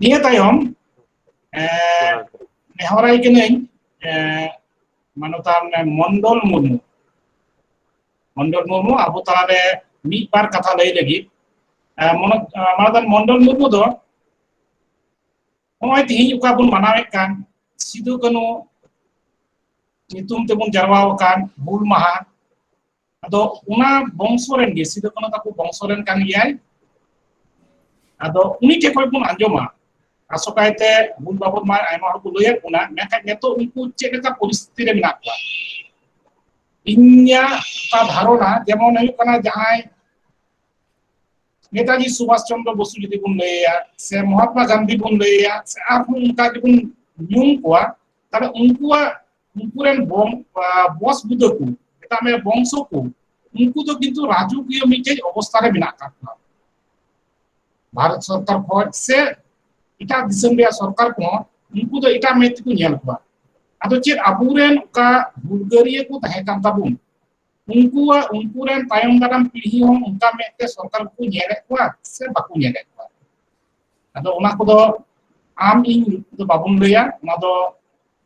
ᱱᱤᱭᱟᱹ ᱛᱟᱭᱚᱢ ᱱᱮᱦᱚᱨᱟᱭ ᱠᱟᱹᱱᱟᱹᱧ ᱢᱟᱱᱚᱛᱟᱱ ᱢᱚᱱᱰᱚᱞ ᱢᱩᱨᱢᱩ ᱢᱚᱱᱰᱚᱞ ᱢᱩᱨᱢᱩ ᱟᱵᱚ ᱛᱟᱞᱟᱨᱮ ᱢᱤᱫ ᱵᱟᱨ ᱠᱟᱛᱷᱟ ᱞᱟᱹᱭ ᱞᱟᱹᱜᱤᱫ ᱢᱟᱱᱚᱛᱟᱱ ᱢᱚᱱᱰᱚᱞ ᱢᱩᱨᱢᱩ ᱫᱚ ᱱᱚᱜᱼᱚᱭ ᱛᱤᱦᱤᱧ ᱚᱠᱟ ᱵᱚᱱ ᱢᱟᱱᱟᱣᱮᱫ ᱠᱟᱱ ᱥᱤᱫᱩ ᱠᱟᱹᱱᱩ ᱧᱩᱛᱩᱢ ᱛᱮᱵᱚᱱ ᱡᱟᱨᱣᱟ ᱟᱠᱟᱱ ᱦᱩᱞ ᱢᱟᱦᱟ ᱟᱫᱚ ᱚᱱᱟ ᱵᱚᱝᱥᱚ ᱨᱮᱱ ᱜᱮ ᱥᱤᱫᱩ ᱠᱟᱹᱱᱩ ᱛᱟᱠᱚ ᱵᱚᱝᱥᱚ ᱨᱮᱱ ᱠᱟᱱ ᱜᱮᱭᱟᱭ ᱟᱫᱚ ᱩᱱᱤ ᱴᱷᱮᱱ ᱠᱷᱚᱱ ᱵᱚᱱ ᱟᱸᱡᱚᱢᱟ ᱟᱥᱚᱠᱟᱭᱛᱮ ᱦᱩᱞ ᱵᱟᱵᱚᱫ ᱢᱟ ᱟᱭᱢᱟ ᱦᱚᱲ ᱠᱚ ᱞᱟᱹᱭᱟᱫ ᱵᱚᱱᱟ ᱢᱮᱱᱠᱷᱟᱱ ᱱᱤᱛᱚᱜ ᱩᱱᱠᱩ ᱪᱮᱫ ᱞᱮᱠᱟ ᱯᱚᱨᱤᱥᱛᱷᱤᱛᱤ ᱨᱮ ᱢᱮᱱᱟᱜ ᱠᱚᱣᱟ ᱤᱧᱟᱹᱜ ᱚᱠᱟ ᱫᱷᱟᱨᱚᱱᱟ ᱡᱮᱢᱚᱱ ᱦᱩᱭᱩᱜ ᱠᱟᱱᱟ ᱡᱟᱦᱟᱸᱭ ᱱᱮᱛᱟᱡᱤ ᱥᱩᱵᱷᱟᱥ ᱪᱚᱱᱫᱨᱚ ᱵᱚᱥᱩ ᱡᱩᱫᱤ ᱵᱚᱱ ᱞᱟᱹᱭᱟ ᱥᱮ ᱢᱚᱦᱟᱛᱢᱟ ᱜᱟᱱᱫᱷᱤ ᱵᱚᱱ ᱞᱟᱹᱭᱟ ᱥᱮ ᱟᱨᱦᱚᱸ ᱚᱱᱠᱟ ᱜᱮᱵᱚᱱ ᱧᱩᱢ ᱠᱚᱣᱟ ᱛᱟᱦᱚᱞᱮ ᱩᱱᱠᱩᱣᱟᱜ ᱩᱱᱠᱩ ᱨᱮᱱ ᱵᱚᱝ ᱵᱚᱥ ᱵᱩᱫᱟᱹ ᱠᱚ ᱢᱮᱛᱟᱜ ᱢᱮ ᱵᱚᱝᱥᱚ ᱠᱚ ᱩᱱᱠᱩ ᱫᱚ ᱠᱤᱱᱛᱩ ᱨᱟᱡᱚᱠᱤᱭᱟᱹ ᱢᱤᱫᱴᱮᱡ ᱚᱵᱚᱥᱛᱟ ᱨᱮ ᱢᱮᱱᱟᱜ ᱟᱠᱟᱫ ᱠᱚᱣᱟ ᱵᱷᱟᱨᱚᱛ ᱥᱚᱨᱠᱟᱨ ᱠᱷᱚᱱ ᱥᱮ ᱮᱴᱟᱜ ᱫᱤᱥᱚᱢ ᱨᱮᱭᱟᱜ ᱥᱚᱨᱠᱟᱨ ᱠᱚᱦᱚᱸ ᱩᱱᱠᱩ ᱫᱚ ᱮᱴᱟᱜ ᱢᱮᱫ ᱛᱮᱠᱚ ᱧᱮᱞ ᱠᱚᱣᱟ ᱟᱫᱚ ᱪᱮᱫ ᱟᱵᱚᱨᱮᱱ ᱚᱠᱟ ᱦᱩᱞᱜᱟᱹᱨᱤᱭᱟᱹ ᱠᱚ ᱛᱟᱦᱮᱸ ᱠᱟᱱ ᱛᱟᱵᱚᱱ ᱩᱱᱠᱩᱣᱟᱜ ᱩᱱᱠᱩ ᱨᱮᱱ ᱛᱟᱭᱚᱢ ᱫᱟᱨᱟᱢ ᱯᱤᱲᱦᱤ ᱦᱚᱸ ᱚᱱᱠᱟ ᱢᱮᱫ ᱛᱮ ᱥᱚᱨᱠᱟᱨ ᱠᱚ ᱧᱮᱞᱮᱫ ᱠᱚᱣᱟ ᱥᱮ ᱵᱟᱠᱚ ᱧᱮᱞᱮᱫ ᱠᱚᱣᱟ ᱟᱫᱚ ᱚᱱᱟ ᱠᱚᱫᱚ ᱟᱢ ᱤᱧ ᱫᱚ ᱵᱟᱵᱚᱱ ᱞᱟᱹᱭᱟ ᱚᱱᱟ ᱫᱚ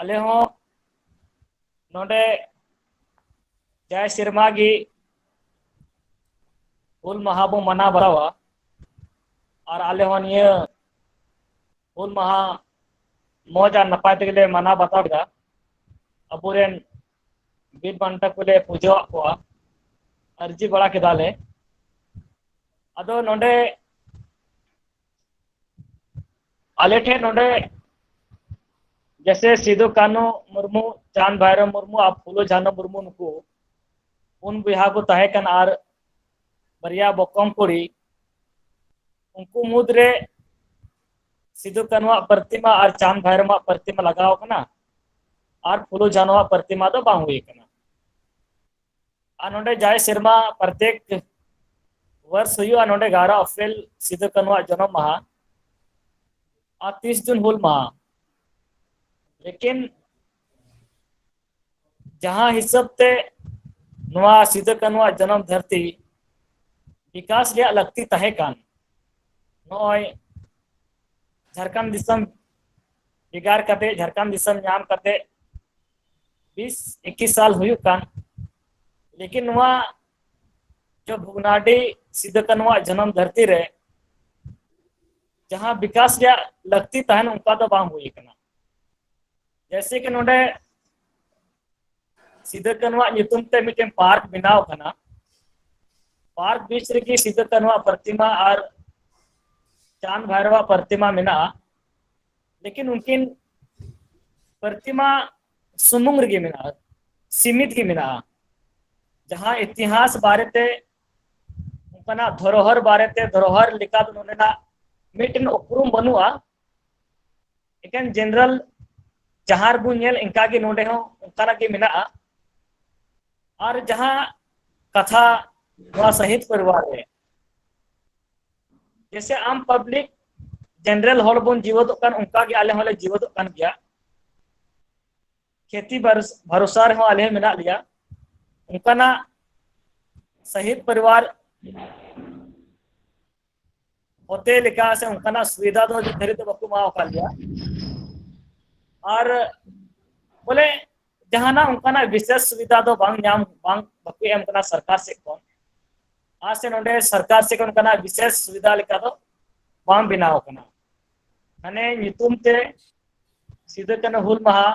ᱟᱞᱮ ᱦᱚᱸ ᱱᱚᱰᱮ ᱡᱟᱭ ᱥᱮᱨᱢᱟ ᱜᱤ ᱦᱩᱞ ᱢᱟᱦᱟ ᱵᱚ ᱢᱟᱱᱟᱣ ᱵᱟᱲᱟᱣᱟ ᱟᱨ ᱟᱞᱮ ᱦᱚᱸ ᱱᱤᱭᱟᱹ ᱦᱩᱞ ᱢᱟᱦᱟ ᱢᱚᱸᱡᱽ ᱟᱨ ᱱᱟᱯᱟᱭ ᱛᱮᱜᱮ ᱞᱮ ᱢᱟᱱᱟᱣ ᱵᱟᱛᱟᱣ ᱠᱮᱫᱟ ᱟᱵᱚᱨᱮᱱ ᱵᱤᱨ ᱵᱟᱱᱴᱟ ᱠᱚᱞᱮ ᱯᱩᱡᱟᱹᱣᱟᱜ ᱠᱚᱣᱟ ᱟᱹᱨᱡᱤ ᱵᱟᱲᱟ ᱠᱮᱫᱟᱞᱮ ᱟᱫᱚ ᱱᱚᱰᱮ ᱟᱞᱮ ᱴᱷᱮᱱ ᱱᱚᱰᱮ ᱡᱮᱥᱮ ᱥᱤᱫᱩ ᱠᱟᱹᱱᱩ ᱢᱩᱨᱢᱩ ᱪᱟᱸᱫᱽ ᱵᱷᱟᱭᱨᱚ ᱢᱩᱨᱢᱩ ᱟᱨ ᱯᱷᱩᱞᱳ ᱡᱷᱟᱱᱚ ᱢᱩᱨᱢᱩ ᱱᱩᱠᱩ ᱯᱩᱱ ᱵᱚᱭᱦᱟ ᱠᱚ ᱛᱟᱦᱮᱸ ᱠᱟᱱᱟ ᱟᱨ ᱵᱟᱨᱭᱟ ᱵᱚᱠᱚᱢ ᱠᱩᱲᱤ ᱩᱱᱠᱩ ᱢᱩᱫᱽᱨᱮ ᱥᱤᱫᱩ ᱠᱟᱹᱱᱩᱣᱟᱜ ᱯᱨᱚᱛᱤᱢᱟ ᱟᱨ ᱪᱟᱸᱫᱽ ᱵᱷᱟᱭᱨᱚᱢᱟᱜ ᱯᱨᱚᱛᱤᱢᱟ ᱞᱟᱜᱟᱣ ᱠᱟᱱᱟ ᱟᱨ ᱯᱷᱩᱞᱳ ᱡᱷᱟᱱᱚᱣᱟᱜ ᱯᱨᱚᱛᱤᱢᱟ ᱫᱚ ᱵᱟᱝ ᱦᱩᱭ ᱠᱟᱱᱟ ᱟᱨ ᱱᱚᱰᱮ ᱡᱟᱭ ᱥᱮᱨᱢᱟ ᱯᱨᱚᱛᱮᱠ ᱣᱟᱨᱥ ᱦᱩᱭᱩᱜᱼᱟ ᱱᱚᱰᱮ ᱜᱟᱨᱟ ᱚᱯᱷᱮᱞ ᱥᱤᱫᱩ ᱠᱟᱹᱱᱩᱣᱟᱜ ᱡᱚᱱᱚᱢ ᱢᱟᱦᱟ ᱟᱨ ᱛᱤᱥ ᱡᱩᱱ ᱦᱩᱞ ᱢᱟᱦᱟ ᱞᱮᱠᱤᱱ ᱡᱟᱦᱟᱸ ᱦᱤᱥᱟᱹᱵ ᱛᱮ ᱱᱚᱣᱟ ᱥᱤᱫᱩ ᱠᱟᱹᱱᱩᱣᱟᱜ ᱡᱚᱱᱚᱢ ᱫᱷᱟᱹᱨᱛᱤ ᱵᱤᱠᱟᱥ ᱨᱮᱭᱟᱜ ᱞᱟᱹᱠᱛᱤ ᱛᱟᱦᱮᱸ ᱠᱟᱱ ᱱᱚᱜᱼᱚᱭ ᱡᱷᱟᱲᱠᱷᱚᱸᱰ ᱫᱤᱥᱚᱢ ᱵᱷᱮᱜᱟᱨ ᱠᱟᱛᱮ ᱡᱷᱟᱲᱠᱷᱚᱸᱰ ᱫᱤᱥᱚᱢ ᱧᱟᱢ ᱠᱟᱛᱮ ᱵᱤᱥ ᱮᱠᱤᱥ ᱥᱟᱞ ᱦᱩᱭᱩᱜ ᱠᱟᱱ ᱞᱮᱠᱤᱱ ᱱᱚᱣᱟ ᱡᱚ ᱵᱷᱚᱜᱽᱱᱟᱰᱤ ᱥᱤᱫᱩ ᱠᱟᱹᱱᱩᱣᱟᱜ ᱡᱟᱱᱟᱢ ᱫᱷᱟᱹᱨᱛᱤ ᱨᱮ ᱡᱟᱦᱟᱸ ᱵᱤᱠᱟᱥ ᱨᱮᱭᱟᱜ ᱞᱟᱹᱠᱛᱤ ᱛᱟᱦᱮᱱ ᱚᱱᱠᱟ ᱫᱚ ᱵᱟᱝ ᱦᱩᱭ ᱟᱠᱟᱱᱟ ᱡᱮᱭᱥᱮ ᱠᱤ ᱱᱚᱰᱮ ᱥᱤᱫᱩ ᱠᱟᱹᱱᱩᱣᱟᱜ ᱧᱩᱛᱩᱢ ᱛᱮ ᱢᱤᱫᱴᱮᱱ ᱯᱟᱨᱠ ᱵᱮᱱᱟᱣ ᱠᱟᱱᱟ ᱯᱟᱨᱠ ᱵᱤᱪ ᱨᱮᱜᱮ ᱥᱤᱫᱩ ᱠᱟᱹᱱᱩᱣᱟᱜ ᱯᱨᱚᱛᱤᱢᱟ ᱟᱨ ᱪᱟᱸᱫᱽ ᱵᱷᱟᱭᱨᱚᱣᱟᱜ ᱯᱨᱚᱛᱤᱢᱟ ᱢᱮᱱᱟᱜᱼᱟ ᱞᱮᱠᱤᱱ ᱩᱱᱠᱤᱱ ᱯᱨᱚᱛᱤᱢᱟ ᱥᱩᱢᱩᱝ ᱨᱮᱜᱮ ᱢᱮᱱᱟᱜᱼᱟ ᱥᱤᱢᱤᱛ ᱜᱮ ᱢᱮᱱᱟᱜᱼᱟ ᱡᱟᱦᱟᱸ ᱤᱛᱤᱦᱟᱥ ᱵᱟᱨᱮᱛᱮ ᱚᱱᱠᱟᱱᱟᱜ ᱫᱷᱚᱨᱚᱦᱚᱨ ᱵᱟᱨᱮᱛᱮ ᱫᱷᱚᱨᱚᱦᱚᱨ ᱞᱮᱠᱟ ᱫᱚ ᱱᱚᱰᱮᱱᱟᱜ ᱢᱤᱫᱴᱮᱱ ᱩᱯᱨᱩᱢ ᱵᱟᱹᱱᱩᱜᱼᱟ ᱮᱠᱮᱱ ᱡᱮᱱᱟᱨᱮᱞ ᱡᱟᱦᱟᱸ ᱨᱮᱵᱚᱱ ᱧᱮᱞ ᱤᱱᱠᱟ ᱜᱮ ᱱᱚᱰᱮ ᱦᱚᱸ ᱚᱱᱠᱟᱱᱟᱜ ᱜᱮ ᱢᱮᱱᱟᱜᱼᱟ ᱟᱨ ᱡᱟᱦᱟᱸ ᱠᱟᱛᱷᱟ ᱱᱚᱣᱟ ᱥᱟᱹᱦᱤᱛ ᱯᱚᱨᱤᱵᱟᱨ ᱨᱮ ᱡᱮᱥᱮ ᱟᱢ ᱯᱟᱵᱽᱞᱤᱠ ᱡᱮᱱᱟᱨᱮᱞ ᱦᱚᱲ ᱵᱚᱱ ᱡᱤᱣᱮᱫᱚᱜ ᱠᱟᱱ ᱚᱱᱠᱟ ᱜᱮ ᱟᱞᱮ ᱦᱚᱸᱞᱮ ᱡᱤᱣᱮᱫᱚᱜ ᱠᱟᱱ ᱜᱮᱭᱟ ᱠᱷᱮᱛᱤ ᱵᱷᱚᱨᱥᱟ ᱨᱮᱦᱚᱸ ᱟᱞᱮ ᱦᱚᱸ ᱢᱮᱱᱟᱜ ᱞᱮᱭᱟ ᱚᱱᱠᱟᱱᱟᱜ ᱥᱟᱦᱤᱫ ᱯᱚᱨᱤᱵᱟᱨ ᱚᱛᱮ ᱞᱮᱠᱟ ᱥᱮ ᱚᱱᱠᱟᱱᱟᱜ ᱥᱩᱵᱤᱫᱷᱟ ᱫᱚ ᱱᱤᱛ ᱫᱷᱟᱹᱨᱤᱡ ᱫᱚ ᱵᱟᱠᱚ ᱮᱢᱟᱣ ᱟᱠᱟᱫ ᱞᱮᱭᱟ ᱟᱨ ᱵᱚᱞᱮ ᱡᱟᱦᱟᱱᱟᱜ ᱚᱱᱠᱟᱱᱟᱜ ᱵᱤᱥᱮᱥ ᱥᱩᱵᱤᱫᱷᱟ ᱫᱚ ᱵᱟᱝ ᱧᱟᱢ ᱵᱟᱝ ᱵᱟᱠᱚ ᱮᱢ ᱠᱟᱱᱟ ᱥᱚᱨᱠᱟᱨ ᱥᱮᱫ ᱠᱷᱚᱱ ᱟᱨ ᱥᱮ ᱱᱚᱰᱮ ᱥᱚᱨᱠᱟᱨ ᱥᱮᱫ ᱠᱷᱚᱱ ᱚᱱᱠᱟᱱᱟᱜ ᱵᱤᱥᱮᱥ ᱥᱩᱵᱤᱫᱷᱟ ᱞᱮᱠᱟ ᱫᱚ ᱵᱟᱝ ᱵᱮᱱᱟᱣ ᱠᱟᱱᱟ ᱢᱟᱱᱮ ᱧᱩᱛᱩᱢ ᱛᱮ ᱥᱤᱫᱩ ᱠᱟᱹᱱᱦᱩ ᱦᱩᱞ ᱢᱟᱦᱟ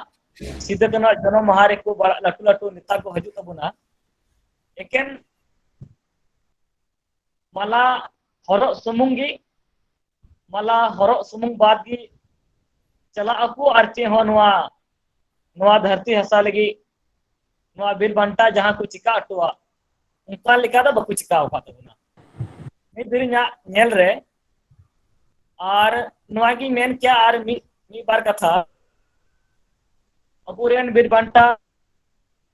ᱥᱤᱫᱩ ᱠᱟᱹᱱᱦᱩ ᱡᱚᱱᱚᱢ ᱢᱟᱦᱟ ᱨᱮᱠᱚ ᱞᱟᱹᱴᱩ ᱞᱟᱹᱴᱩ ᱱᱮᱛᱟ ᱠᱚ ᱦᱤᱡᱩᱜ ᱛᱟᱵᱚᱱᱟ ᱮᱠᱮᱱ ᱢᱟᱞᱟ ᱦᱚᱨᱚᱜ ᱥᱩᱢᱩᱝ ᱜᱮ ᱢᱟᱞᱟ ᱦᱚᱨᱚᱜ ᱥᱩᱢᱩᱝ ᱵᱟᱫ ᱜᱮ ᱪᱟᱞᱟᱜ ᱟᱠᱚ ᱟᱨ ᱪᱮᱫ ᱦᱚᱸ ᱱᱚᱣᱟ ᱱᱚᱣᱟ ᱫᱷᱟᱹᱨᱛᱤ ᱦᱟᱥᱟ ᱞᱟᱹᱜᱤᱫ ᱱᱚᱣᱟ ᱵᱤᱨ ᱵᱟᱱᱴᱟ ᱡᱟᱦᱟᱸ ᱠᱚ ᱪᱤᱠᱟ ᱦᱚᱴᱚᱣᱟᱜ ᱚᱱᱠᱟ ᱞᱮᱠᱟ ᱫᱚ ᱵᱟᱠᱚ ᱪᱤᱠᱟ ᱟᱠᱟᱫ ᱛᱟᱵᱚᱱᱟ ᱢᱤᱫ ᱫᱤᱱᱤᱧᱟᱜ ᱧᱮᱞ ᱨᱮ ᱟᱨ ᱱᱚᱣᱟ ᱜᱤᱧ ᱢᱮᱱ ᱠᱮᱭᱟ ᱟᱨ ᱢᱤᱫ ᱢᱤᱫ ᱵᱟᱨ ᱠᱟᱛᱷᱟ ᱟᱵᱚᱨᱮᱱ ᱵᱤᱨ ᱵᱟᱱᱴᱟ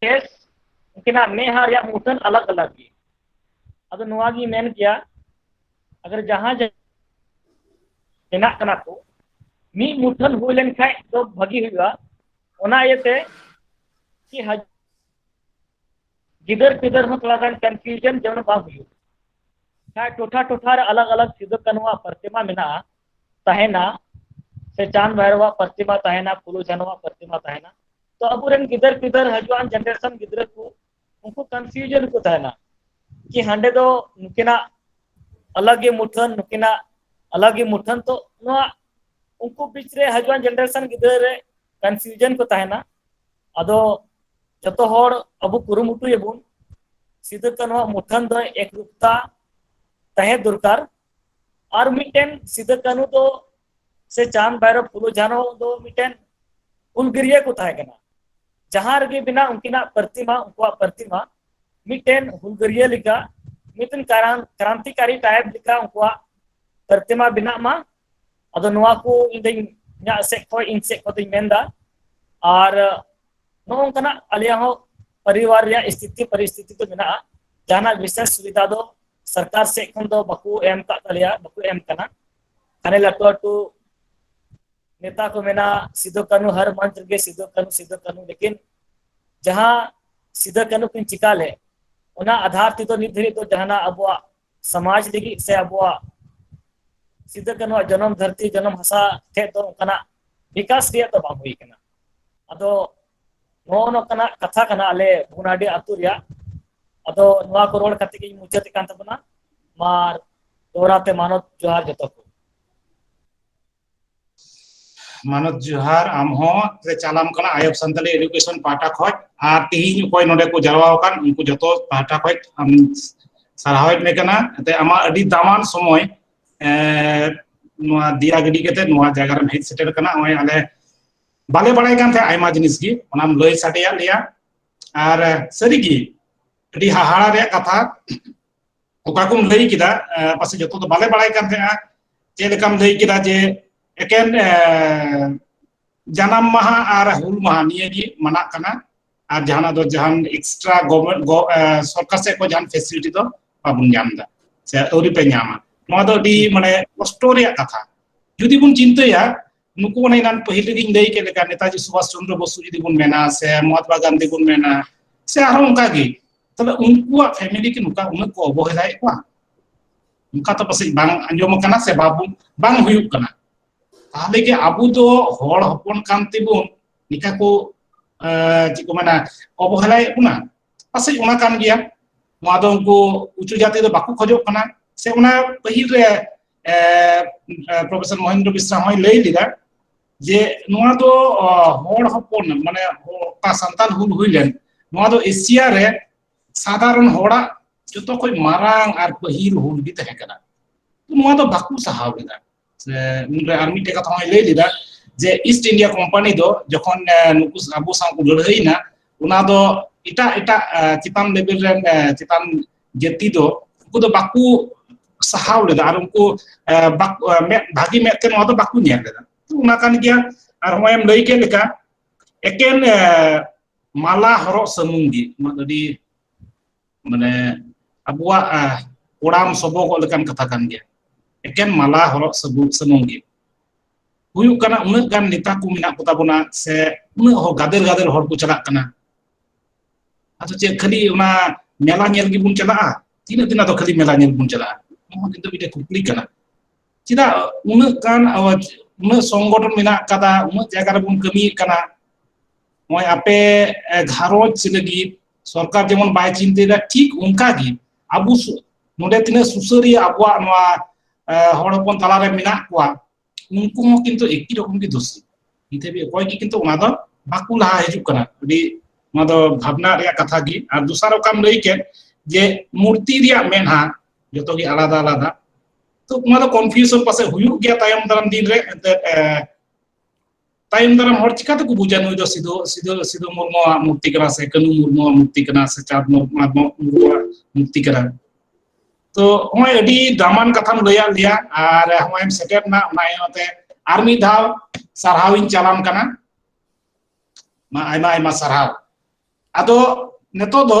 ᱠᱮᱥ ᱩᱱᱠᱤᱱᱟᱜ ᱢᱮᱫᱦᱟ ᱨᱮᱭᱟᱜ ᱢᱩᱴᱷᱟᱹᱱ ᱟᱞᱟᱜ ᱟᱞᱟᱜ ᱜᱮ ᱟᱫᱚ ᱱᱚᱣᱟ ᱜᱮ ᱢᱮᱱ ᱠᱮᱭᱟ ᱟᱜᱟᱨ ᱡᱟᱦᱟᱸ ᱢᱮᱱᱟᱜ ᱠᱟᱱᱟ ᱠᱚ ᱢᱤᱫ ᱢᱩᱴᱷᱟᱹᱱ ᱦᱩᱭ ᱞᱮᱱᱠᱷᱟᱡ ᱫᱚ ᱵᱷᱟᱹᱜᱤ ᱦᱩᱭᱩᱜᱼᱟ ᱚᱱᱟ ᱤᱭᱟᱹᱛᱮ ᱠᱤ ᱦᱟᱡ ᱜᱤᱫᱟᱹᱨ ᱯᱤᱫᱟᱹᱨ ᱦᱚᱸ ᱛᱷᱚᱲᱟ ᱜᱟᱱ ᱠᱚᱱᱯᱷᱤᱭᱩᱡᱚᱱ ᱡᱮᱢᱚᱱ ᱵᱟᱝ ᱦᱩᱭᱩᱜ ᱠᱷᱟᱡ ᱴᱚᱴᱷᱟ ᱴᱚᱴᱷᱟ ᱨᱮ ᱟᱞᱟᱜ ᱟᱞᱟᱜ ᱥᱤᱫᱩ ᱠᱟᱹᱱᱩᱣᱟᱜ ᱯᱨᱚᱛᱤᱢᱟ ᱢᱮᱱᱟᱜᱼᱟ ᱛᱟᱦᱮᱱᱟ ᱥᱮ ᱪᱟᱸᱫ ᱵᱷᱟᱭᱨᱚᱣᱟᱜ ᱯᱨᱚᱛᱤᱢᱟ ᱛᱟᱦᱮᱱᱟ ᱯᱷᱩᱞᱩ ᱡᱷᱟᱱᱚᱣᱟᱜ ᱯᱨᱚᱛᱤᱢᱟ ᱛᱟᱦᱮᱱᱟ ᱛᱚ ᱟᱵᱚᱨᱮᱱ ᱜᱤᱫᱟᱹᱨ ᱯᱤᱫᱟᱹᱨ ᱦᱟᱡᱩᱜᱟᱱ ᱡᱮᱱᱟᱨᱮᱥᱚᱱ ᱜᱤᱫᱽᱨᱟᱹ ᱠᱚ ᱩᱱᱠᱩ ᱠᱚᱱᱯᱷᱤᱭᱩᱡᱚᱱ ᱠᱚ ᱛᱟᱦᱮᱱᱟ ᱠᱤ ᱦᱟᱸᱰᱮ ᱫᱚ ᱱᱩᱠᱤᱱᱟᱜ ᱟᱞᱟᱜ ᱜᱮ ᱢᱩᱴᱷᱟᱹᱱ ᱱᱩᱠᱤᱱᱟᱜ ᱟᱞᱟᱜ ᱜᱮ ᱢᱩᱴᱷᱟᱹᱱ ᱛᱚ ᱱᱚᱣᱟ ᱩᱱᱠᱩ ᱵᱤᱪ ᱨᱮ ᱦᱟᱡᱩᱜᱟᱱ ᱡᱮᱱᱟᱨᱮᱥᱚᱱ ᱜᱤᱫᱽᱨᱟᱹ ᱨᱮ ᱠᱚᱱᱯᱷᱤᱭᱩᱡᱚᱱ ᱠᱚ ᱛᱟᱦᱮᱱᱟ ᱟᱫᱚ ᱡᱚᱛᱚ ᱦᱚᱲ ᱟᱵᱚ ᱠᱩᱨᱩᱢᱩᱴᱩᱭᱟᱵᱚᱱ ᱥᱤᱫᱩ ᱠᱟᱹᱱᱦᱩᱣᱟᱜ ᱢᱩᱴᱷᱟᱹᱱ ᱫᱚ ᱮᱠᱨᱩᱯᱛᱟ ᱛᱟᱦᱮᱸ ᱫᱚᱨᱠᱟᱨ ᱟᱨ ᱢᱤᱫᱴᱮᱱ ᱥᱤᱫᱟᱹ ᱠᱟᱹᱱᱩ ᱫᱚ ᱥᱮ ᱪᱟᱸᱫ ᱵᱷᱟᱭᱨᱚᱵ ᱯᱷᱩᱞᱳ ᱡᱷᱟᱱᱚ ᱫᱚ ᱢᱤᱫᱴᱮᱱ ᱩᱞᱜᱤᱨᱤᱭᱟᱹ ᱠᱚ ᱛᱟᱦᱮᱸ ᱠᱟᱱᱟ ᱡᱟᱦᱟᱸ ᱨᱮᱜᱮ ᱵᱮᱱᱟᱜ ᱩᱱᱠᱤᱱᱟᱜ ᱯᱨᱚᱛᱤᱢᱟ ᱩᱱᱠᱩᱣᱟᱜ ᱯᱨᱚᱛᱤᱢᱟ ᱢᱤᱫᱴᱮᱱ ᱦᱩᱞᱜᱟᱹᱨᱤᱭᱟᱹ ᱞᱮᱠᱟ ᱢᱤᱫᱴᱮᱱ ᱠᱨᱟᱱᱛᱤᱠᱟᱨᱤ ᱴᱟᱭᱤᱯ ᱞᱮᱠᱟ ᱩᱱᱠᱩᱣᱟᱜ ᱯᱨᱚᱛᱤᱢᱟ ᱵᱮᱱᱟᱜ ᱢᱟ ᱟᱫᱚ ᱱᱚᱣᱟ ᱠᱚ ᱤᱧ ᱫᱚᱧ ᱤᱧᱟᱹᱜ ᱥᱮᱫ ᱠᱷᱚᱱ ᱤᱧ ᱥᱮᱫ ᱠᱷᱚᱱ ᱫᱚᱧ ᱢᱮᱱᱫᱟ ᱟᱨ ᱱᱚᱜᱼᱚ ᱱᱚᱝᱠᱟᱱᱟᱜ ᱟᱞᱮᱭᱟᱜ ᱦᱚᱸ ᱯᱚᱨᱤᱵᱟᱨ ᱨᱮᱭᱟᱜ ᱥᱛᱷᱤᱛᱤ ᱯᱚᱨᱤᱥᱛᱷᱤᱛᱤ ᱫᱚ ᱢᱮᱱᱟᱜᱼᱟ ᱡᱟᱦᱟᱱᱟᱜ ᱵᱤᱥᱮᱥ ᱥᱩᱵᱤᱫᱷᱟ ᱫᱚ ᱥᱚᱨᱠᱟᱨ ᱥᱮᱫ ᱠᱷᱚᱱ ᱫᱚ ᱵᱟᱠᱚ ᱮᱢ ᱠᱟᱜ ᱛᱟᱞᱮᱭᱟ ᱵᱟᱠᱚ ᱮᱢ ᱠᱟᱱᱟ ᱦᱟᱱᱮ ᱞᱟᱹᱴᱩ ᱞᱟᱹᱴᱩ ᱱᱮᱛᱟ ᱠᱚ ᱢᱮᱱᱟ ᱥᱤᱫᱩ ᱠᱟᱹᱱᱩ ᱦᱟᱨ ᱢᱚᱧᱪ ᱨᱮᱜᱮ ᱥᱤᱫᱩ ᱠᱟᱹᱱᱩ ᱥᱤᱫᱩ ᱠᱟᱹᱱᱩ ᱞᱮᱠᱤᱱ ᱡᱟᱦᱟᱸ ᱥᱤᱫᱩ ᱠᱟᱹᱱᱩ ᱠᱤᱱ ᱪᱤᱠᱟ ᱞᱮᱫ ᱚᱱᱟ ᱟᱫᱷᱟᱨ ᱛᱮᱫᱚ ᱱᱤᱛ ᱫᱷᱟᱹᱨᱤᱡ ᱫᱚ ᱡᱟᱦᱟᱱᱟᱜ ᱟᱵᱚᱣᱟᱜ ᱥᱚᱢᱟᱡᱽ ᱞᱟᱹᱜᱤᱫ ᱥᱮ ᱟᱵᱚᱣᱟᱜ ᱥᱤᱫᱩ ᱠᱟᱹᱱᱩᱣᱟᱜ ᱡᱚᱱᱚᱢ ᱫᱷᱟᱹᱨᱛᱤ ᱡᱚᱱᱚᱢ ᱦᱟᱥᱟ ᱴᱷᱮᱡ ᱫᱚ ᱚᱱᱠᱟᱱᱟᱜ ᱵᱤᱠᱟᱥ ᱨᱮᱭᱟᱜ ᱫᱚ ᱵᱟᱝ ᱦᱩᱭ ᱠᱟᱱᱟ ᱟᱫᱚ ᱱᱚᱜᱼᱚ ᱱᱚᱝᱠᱟᱱᱟᱜ ᱠᱟᱛᱷᱟ ᱠᱟᱱᱟ ᱟᱞᱮ ᱵᱷᱚᱜᱽᱱᱟᱰᱤ ᱟᱹᱛᱩ ᱨᱮᱭᱟᱜ ᱟᱫᱚ ᱱᱚᱣᱟ ᱠᱚ ᱨᱚᱲ ᱠᱟᱛᱮ ᱜᱤᱧ ᱢᱩᱪᱟᱹᱫ ᱮᱫ ᱠᱟᱱ ᱛᱟᱵᱚᱱᱟ ᱢᱟ ᱫᱚᱦᱲᱟ ᱛᱮ ᱢᱟᱱᱚᱛ ᱡᱚᱦᱟᱨ ᱡᱚᱛᱚ ᱠᱚ ᱢᱟᱱᱚᱛ ᱡᱚᱦᱟᱨ ᱟᱢ ᱦᱚᱸ ᱪᱟᱞᱟᱢ ᱠᱟᱱᱟ ᱟᱭᱚᱵ ᱥᱟᱱᱛᱟᱞᱤ ᱮᱰᱩᱠᱮᱥᱚᱱ ᱯᱟᱦᱴᱟ ᱠᱷᱚᱡ ᱟᱨ ᱛᱤᱦᱤᱧ ᱚᱠᱚᱭ ᱱᱚᱰᱮ ᱠᱚ ᱡᱟᱨᱣᱟ ᱟᱠᱟᱱ ᱩᱱᱠᱩ ᱡᱚᱛᱚ ᱯᱟᱦᱴᱟ ᱠᱷᱚᱡ ᱟᱢ ᱥᱟᱨᱦᱟᱣᱮᱫ ᱢᱮ ᱠᱟᱱᱟ ᱮᱱᱛᱮ ᱟᱢᱟᱜ ᱟᱹᱰᱤ ᱫᱟᱢᱟᱱ ᱥᱚᱢᱚᱭ ᱱᱚᱣᱟ ᱫᱤᱭᱟ ᱜᱤᱰᱤ ᱠᱟᱛᱮ ᱱᱚᱣᱟ ᱡᱟᱭᱜᱟ ᱨᱮᱢ ᱦᱮᱡ ᱥᱮᱴᱮᱨ ᱠᱟᱱᱟ ᱱᱚᱜᱼᱚᱭ ᱟᱞᱮ ᱵᱟᱞᱮ ᱵᱟᱲᱟᱭ ᱠᱟᱱ ᱛᱟᱦᱮᱸ ᱟᱭᱢᱟ ᱡᱤᱱᱤᱥ ᱜᱮ ᱚᱱᱟᱢ ᱞᱟᱹᱭ ᱥᱟᱰᱮᱭᱟᱫ ᱞᱮᱭᱟ ᱟᱨ ᱥᱟᱹᱨᱤᱜᱮ ᱟᱹᱰᱤ ᱦᱟᱦᱟᱲᱟ ᱨᱮᱭᱟᱜ ᱠᱟᱛᱷᱟ ᱚᱠᱟ ᱠᱚᱢ ᱞᱟᱹᱭ ᱠᱮᱫᱟ ᱯᱟᱥᱮ ᱡᱚᱛᱚ ᱫᱚ ᱵᱟᱞᱮ ᱵᱟᱲᱟᱭ ᱠᱟᱱ ᱛᱟᱦᱮᱸᱜᱼᱟ ᱪᱮᱫ ᱞᱮᱠᱟᱢ ᱞᱟᱹᱭ ᱠᱮᱫᱟ ᱡᱮ ᱮᱠᱮᱱ ᱡᱟᱱᱟᱢ ᱢᱟᱦᱟ ᱟᱨ ᱦᱩᱞ ᱢᱟᱦᱟ ᱱᱤᱭᱟᱹ ᱜᱮ ᱢᱟᱱᱟᱜ ᱠᱟᱱᱟ ᱟᱨ ᱡᱟᱦᱟᱱᱟᱜ ᱫᱚ ᱡᱟᱦᱟᱱ ᱮᱠᱥᱴᱨᱟ ᱜᱚᱵᱷᱚᱨᱱᱢᱮᱱᱴ ᱥᱚᱨᱠᱟᱨ ᱥᱮᱫ ᱠᱷᱚᱱ ᱡᱟᱦᱟᱱ ᱯᱷᱮᱥᱤᱞᱤᱴᱤ ᱫᱚ ᱵᱟᱵᱚᱱ ᱧᱟᱢ ᱮᱫᱟ ᱥᱮ ᱟᱹᱣᱨᱤ ᱯᱮ ᱧᱟᱢᱟ ᱱᱚᱣᱟ ᱫᱚ ᱟᱹᱰᱤ ᱢᱟᱱᱮ ᱠᱚᱥᱴᱚ ᱨᱮᱭᱟᱜ ᱠᱟᱛᱷᱟ ᱡᱩᱫᱤ ᱵᱚᱱ ᱪᱤᱱᱛᱟᱹᱭᱟ ᱱᱩᱠᱩ ᱚᱱᱮ ᱮᱱᱟᱱ ᱯᱟᱹᱦᱤᱞ ᱨᱮᱜᱮᱧ ᱞᱟᱹᱭ ᱠᱮᱫ ᱞᱮᱠᱟ ᱱᱮᱛᱟᱡᱤ ᱥᱩᱵᱷᱟᱥ ᱪᱚᱱᱫᱨᱚ ᱵᱚᱥᱩ ᱡᱩᱫᱤ ᱵᱚᱱ ᱢᱮᱱᱟ ᱥᱮ ᱢᱚᱦᱟᱛᱢᱟ ᱜᱟᱱᱫᱷᱤ ᱵᱚᱱ ᱢᱮᱱᱟ ᱥᱮ ᱟᱨᱦᱚᱸ ᱚᱱᱠᱟ ᱜᱮ ᱛᱚᱵᱮ ᱩᱱᱠᱩᱣᱟᱜ ᱯᱷᱮᱢᱤᱞᱤ ᱠᱤ ᱱᱚᱝᱠᱟ ᱩᱱᱟᱹᱜ ᱠᱚ ᱚᱵᱚᱦᱮᱞᱟᱭᱮᱫ ᱠᱚᱣᱟ ᱚᱱᱠᱟ ᱛᱚ ᱯᱟᱥᱮᱡ ᱵᱟᱝ ᱟᱸᱡᱚᱢ ᱟᱠᱟᱱᱟ ᱥᱮ ᱵᱟᱵᱚ ᱵᱟᱝ ᱦᱩᱭᱩᱜ ᱠᱟᱱᱟ ᱛᱟᱦᱞᱮ ᱜᱮ ᱟᱵᱚ ᱫᱚ ᱦᱚᱲ ᱦᱚᱯᱚᱱ ᱠᱟᱱ ᱛᱮᱵᱚᱱ ᱱᱤᱠᱟ ᱠᱚ ᱪᱮᱫ ᱠᱚ ᱢᱮᱱᱟ ᱚᱵᱚᱦᱮᱞᱟᱭᱮᱫ ᱵᱚᱱᱟ ᱯᱟᱥᱮᱡ ᱚᱱᱟ ᱠᱟᱱ ᱜᱮᱭᱟ ᱱᱚᱣᱟ ᱫᱚ ᱩᱱᱠᱩ ᱩᱪᱩ ᱡᱟᱹᱛᱤ ᱫᱚ ᱵᱟᱠᱚ ᱠᱷᱚᱡᱚᱜ ᱠᱟᱱᱟ ᱥᱮ ᱚᱱᱟ ᱯᱟᱹᱦᱤᱞ ᱨᱮ ᱯᱨᱚᱯᱷᱮᱥᱚᱨ ᱢᱚᱦᱮᱱᱫᱨᱚ ᱵᱤᱥᱨᱟ ᱦᱚᱸᱭ ᱞᱟᱹᱭ ᱞᱮᱫᱟ ᱡᱮ ᱱᱚᱣᱟ ᱫᱚ ᱦᱚᱲ ᱦᱚᱯᱚᱱ ᱢᱟᱱᱮ ᱚᱠᱟ ᱥᱟᱱᱛᱟᱲ ᱦᱩᱞ ᱦᱩᱭ ᱞᱮᱱ ᱱᱚᱣᱟ ᱫᱚ ᱮᱥᱤᱭᱟ ᱨᱮ ᱥᱟᱫᱷᱟᱨᱚᱱ ᱦᱚᱲᱟᱜ ᱡᱚᱛᱚ ᱠᱷᱚᱡ ᱢᱟᱨᱟᱝ ᱟᱨ ᱯᱟᱹᱦᱤᱞ ᱦᱩᱞ ᱜᱮ ᱛᱟᱦᱮᱸ ᱠᱟᱱᱟ ᱱᱚᱣᱟ ᱫᱚ ᱵᱟᱠᱚ ᱥᱟᱦᱟᱣ ᱞᱮᱫᱟ ᱩᱱᱨᱮ ᱟᱨ ᱢᱤᱫᱴᱮᱡ ᱠᱟᱛᱷᱟ ᱦᱚᱸᱭ ᱞᱟᱹᱭ ᱞᱮᱫᱟ ᱡᱮ ᱤᱥᱴ ᱤᱱᱰᱤᱭᱟ ᱠᱳᱢᱯᱟᱱᱤ ᱫᱚ ᱡᱚᱠᱷᱚᱱ ᱱᱩᱠᱩ ᱟᱵᱚ ᱥᱟᱶ ᱠᱚ ᱞᱟᱹᱲᱦᱟᱹᱭᱮᱱᱟ ᱚᱱᱟ ᱫᱚ ᱮᱴᱟᱜ ᱮᱴᱟᱜ ᱪᱮᱛᱟᱱ ᱞᱮᱵᱮᱞ ᱨᱮᱱ ᱪᱮᱛᱟᱱ ᱡᱟᱹᱛᱤ ᱫᱚ ᱩᱱᱠᱩ ᱫᱚ ᱵᱟᱠᱚ ᱥᱟᱦᱟᱣ ᱞᱮᱫᱟ ᱟᱨ ᱩᱱᱠᱩ ᱵᱷᱟᱹᱜᱤ ᱢᱮᱫ ᱛᱮ ᱱᱚᱣᱟ ᱫᱚ ᱵᱟᱠᱚ ᱧᱮᱞ ᱞᱮᱫᱟ ᱚᱱᱟ ᱠᱟᱱ ᱜᱮᱭᱟ ᱟᱨ ᱱᱚᱜᱼᱚᱭ ᱮᱢ ᱞᱟᱹᱭ ᱠᱮᱫ ᱞᱮᱠᱟ ᱮᱠᱮᱱ ᱢᱟᱞᱟ ᱦᱚᱨᱚᱜ ᱥᱩᱢᱩᱝ ᱜᱮ ᱚᱱᱟ ᱫᱚ ᱟᱹᱰᱤ ᱢᱟᱱᱮ ᱟᱵᱚᱣᱟᱜ ᱠᱚᱲᱟᱢ ᱥᱚᱵᱚᱜᱚᱜ ᱞᱮᱠᱟᱱ ᱠᱟᱛᱷᱟ ᱠᱟᱱ ᱜᱮᱭᱟ ᱮᱠᱮᱱ ᱢᱟᱞᱟ ᱦᱚᱨᱚᱜ ᱥᱩᱢᱩᱝ ᱥᱩᱢᱩᱝ ᱜᱮ ᱦᱩᱭᱩᱜ ᱠᱟᱱᱟ ᱩᱱᱟᱹᱜ ᱜᱟᱱ ᱱᱮᱛᱟ ᱠᱚ ᱢᱮᱱᱟᱜ ᱠᱚᱛᱟ ᱵᱚᱱᱟ ᱥᱮ ᱩᱱᱟᱹᱜ ᱦᱚᱲ ᱜᱟᱫᱮᱞ ᱜᱟᱫᱮᱞ ᱦᱚᱲ ᱠᱚ ᱪᱟᱞᱟᱜ ᱠᱟᱱᱟ ᱟᱫᱚ ᱪᱮᱫ ᱠᱷᱟᱹᱞᱤ ᱚᱱᱟ ᱢᱮᱞᱟ ᱧᱮᱞ ᱜᱮᱵᱚᱱ ᱪᱟᱞᱟᱜᱼᱟ ᱛᱤᱱᱟᱹᱜ ᱫᱤᱱ ᱟᱫᱚ ᱠᱷᱟᱹᱞᱤ ᱢᱮᱞᱟ ᱧᱮᱞ ᱵᱚᱱ ᱪᱟᱞᱟᱜᱼᱟ ᱱᱚᱣᱟ ᱠᱤᱱᱛᱩ ᱢᱤᱫᱴᱮᱱ ᱠᱩᱠᱞᱤ ᱠᱟᱱᱟ ᱪᱮᱫᱟᱜ ᱩᱱᱟᱹᱜ ᱜᱟᱱ ᱟᱣᱟᱡ ᱩᱱᱟᱹᱜ ᱥᱚᱝᱜᱚᱴᱷᱚᱱ ᱢᱮᱱᱟᱜ ᱟᱠᱟᱫᱟ ᱩᱱᱟᱹᱜ ᱡᱟᱭᱜᱟ ᱨᱮᱵᱚᱱ ᱠᱟᱹᱢᱤᱭᱮᱫ ᱠᱟᱱᱟ ᱱᱚᱜᱼᱚᱭ ᱟᱯᱮ ᱜᱷᱟᱨᱚᱸᱡᱽ ᱞᱟᱹᱜᱤᱫ ᱥᱚᱨᱠᱟᱨ ᱡᱮᱢᱚᱱ ᱵᱟᱭ ᱪᱤᱱᱛᱟᱹᱭᱮᱫᱟ ᱴᱷᱤᱠ ᱚᱱᱠᱟ ᱜᱮ ᱟᱵᱚ ᱱᱚᱰᱮ ᱛᱤᱱᱟᱹᱜ ᱥᱩᱥᱟᱹᱨᱤᱭᱟᱹ ᱟᱵᱚᱣᱟᱜ ᱱᱚᱣᱟ ᱦᱚᱲ ᱦᱚᱯᱚᱱ ᱛᱟᱞᱟᱨᱮ ᱢᱮᱱᱟᱜ ᱠᱚᱣᱟ ᱩᱱᱠᱩ ᱦᱚᱸ ᱠᱤᱱᱛᱩ ᱮᱠᱤ ᱨᱚᱠᱚᱢ ᱜᱮ ᱫᱳᱥ ᱱᱤᱛ ᱦᱟᱹᱵᱤᱡ ᱚᱠᱚᱭ ᱜᱮ ᱠᱤᱱᱛᱩ ᱚᱱᱟ ᱫᱚ ᱵᱟᱠᱚ ᱞᱟᱦᱟ ᱦᱤᱡᱩᱜ ᱠᱟᱱᱟ ᱟᱹᱰᱤ ᱱᱚᱣᱟ ᱫᱚ ᱵᱷᱟᱵᱽᱱᱟ ᱨᱮᱭᱟᱜ ᱠᱟᱛᱷᱟ ᱜᱮ ᱟᱨ ᱫᱚᱥᱟᱨ ᱚᱠᱟᱢ ᱞᱟᱹᱭ ᱠᱮᱫ ᱡᱮ ᱢᱩᱨᱛᱤ ᱨᱮᱭᱟᱜ ᱢᱮᱫᱦᱟ ᱡᱚᱛᱚ ᱜᱮ ᱟᱞᱟᱫᱟ ᱟᱞᱟᱫᱟ ᱛᱚ ᱚᱱᱟ ᱫᱚ ᱠᱚᱱᱯᱷᱤᱭᱩᱥᱚᱱ ᱯᱟᱥᱮ ᱦᱩᱭᱩᱜ ᱜᱮᱭᱟ ᱛᱟᱭᱚᱢ ᱫᱟᱨᱟᱢ ᱫᱤᱱ ᱨᱮ ᱮᱱᱛᱮᱫ ᱛᱟᱭᱚᱢ ᱫᱟᱨᱟᱢ ᱦᱚᱲ ᱪᱤᱠᱟᱹᱛᱮ ᱠᱚ ᱵᱩᱡᱟ ᱱᱩᱭ ᱫᱚ ᱥᱤᱫᱩ ᱥᱤᱫᱩ ᱥᱤᱫᱩ ᱢᱩᱨᱢᱩᱣᱟᱜ ᱢᱩᱨᱛᱤ ᱠᱟᱱᱟ ᱥᱮ ᱠᱟᱹᱱᱩ ᱢᱩᱨᱢᱩᱣᱟᱜ ᱢᱩᱨᱛᱤ ᱠᱟᱱᱟ ᱥᱮ ᱪᱟᱸᱫᱽ ᱢᱩᱨᱢᱩᱣᱟᱜ ᱢᱩᱨᱛᱤ ᱠᱟᱱᱟ ᱛᱚ ᱦᱚᱸᱜᱼᱚᱭ ᱟᱹᱰᱤ ᱫᱟᱢᱟᱱ ᱠᱟᱛᱷᱟᱢ ᱞᱟᱹᱭᱟᱫ ᱞᱮᱭᱟ ᱟᱨ ᱦᱚᱸᱜᱼᱚᱭ ᱮᱢ ᱥᱮᱴᱮᱨ ᱮᱱᱟ ᱚᱱᱟ ᱤᱭᱟᱹᱛᱮ ᱟᱨ ᱢᱤᱫ ᱫᱷᱟᱣ ᱥᱟᱨᱦᱟᱣ ᱤᱧ ᱪᱟᱞᱟᱢ ᱠᱟᱱᱟ ᱢᱟ ᱟᱭᱢᱟ ᱟᱭᱢᱟ ᱥᱟᱨᱦᱟᱣ ᱟᱫᱚ ᱱᱤᱛᱚᱜ ᱫᱚ